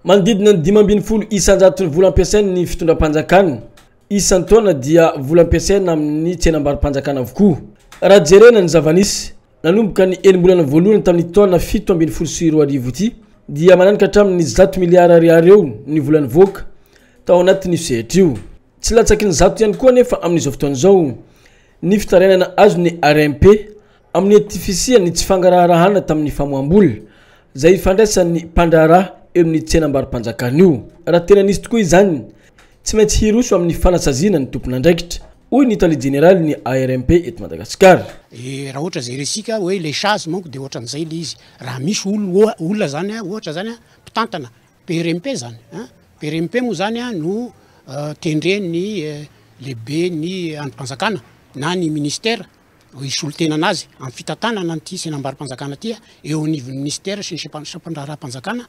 Manodidina ny dimy ambin'ny folo isan-jaton'ny vola ampiasain'ny fitondram-panjakana isan-taona dia vola ampiasaina amin'ny tsenam-barom-panjakana avokoa. Raha jerena ny zava-nisy, nanomboka ny enim-bolana voalohany tamin'ity taona fito ambin'ny folo sy roa arivo ity dia mananika hatramin'ny zato miliara ariary eo ny vola nivoaka tao anatin'io sehatra io. Tsy latsaky ny zato ihany koa anefa amin'izao fotoana izao ny fitarainana azon'ny RMP Amin'ny ety fisian'ny tsy fangaraharahana tamin'ny famoaham-bola, izay ifandraisan'ny mpandraharaha eo amin'ny tsenam-barom-panjakana io. Raha tena nisy tokoa izany, tsy maintsy hiroso amin'ny fanasaziana ny tompon'andraikitra, hoy ny tale jeneralin'ny ARMP eto Madagasikara. Raha ohatra izay resika hoe ilay Chase manko dia ohatran'izay ilay izy. Raha misy olona izany ohatra izany mpitantana PRMP izany, PRMP moa izany no tendren'ny lehiben'ny andrim-panjakana na ny ministera. hisolo tena an'azy amin'ny fitantanana an'ity tsenam-barom-panjakana ity eo anivon'ny minisitera sy ny sampandraharaham-panjakana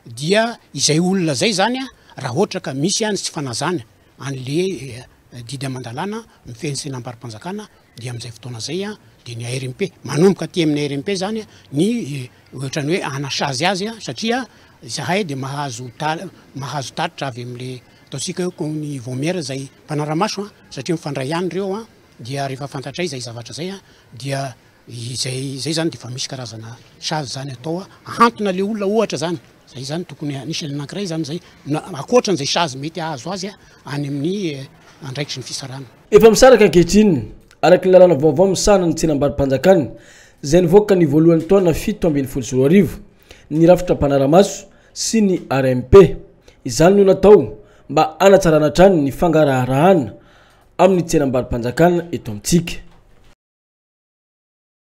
dia izay olona izay izany raha ohatra ka misy ihany tsy fanazana an'le didy aman-dalàna mifehy ny tsenam-barom-panjakana dia amin'izay fotoana izay dia ny ARMP manomboka aty amin'ny ARMP izany ny ohatran'ny hoe hanasazy azy satria izahay dia mahazo mahazo tatitra avy amin'le ataontsika hoe ny vaomiera izay mpanara-maso satria mifandray ihany ireo Dia rehefa fantatray izay zavatra izay dia izay izay izany dia efa misy karazana sazy izany atao ahantona ilay olona ohatra izany, izay izany tokony anisany anankiray izany izay na ankoatran'izay sazy mety hahazo azy any amin'ny andraikitry ny fisarahana. Efa misaraka ankehitriny, araka ny lalàna vaovao misahana ny tsenam-barom-panjakana izay nivoaka ny voalohan'ny taona fito ambin'ny folo sy roa arivo, ny rafitra mpanara-maso sy ny RMP. Izany no natao mba hanatsarana hatrany ny fangaraharahana amin'ny tsenam-barom-panjakana eto amintsika.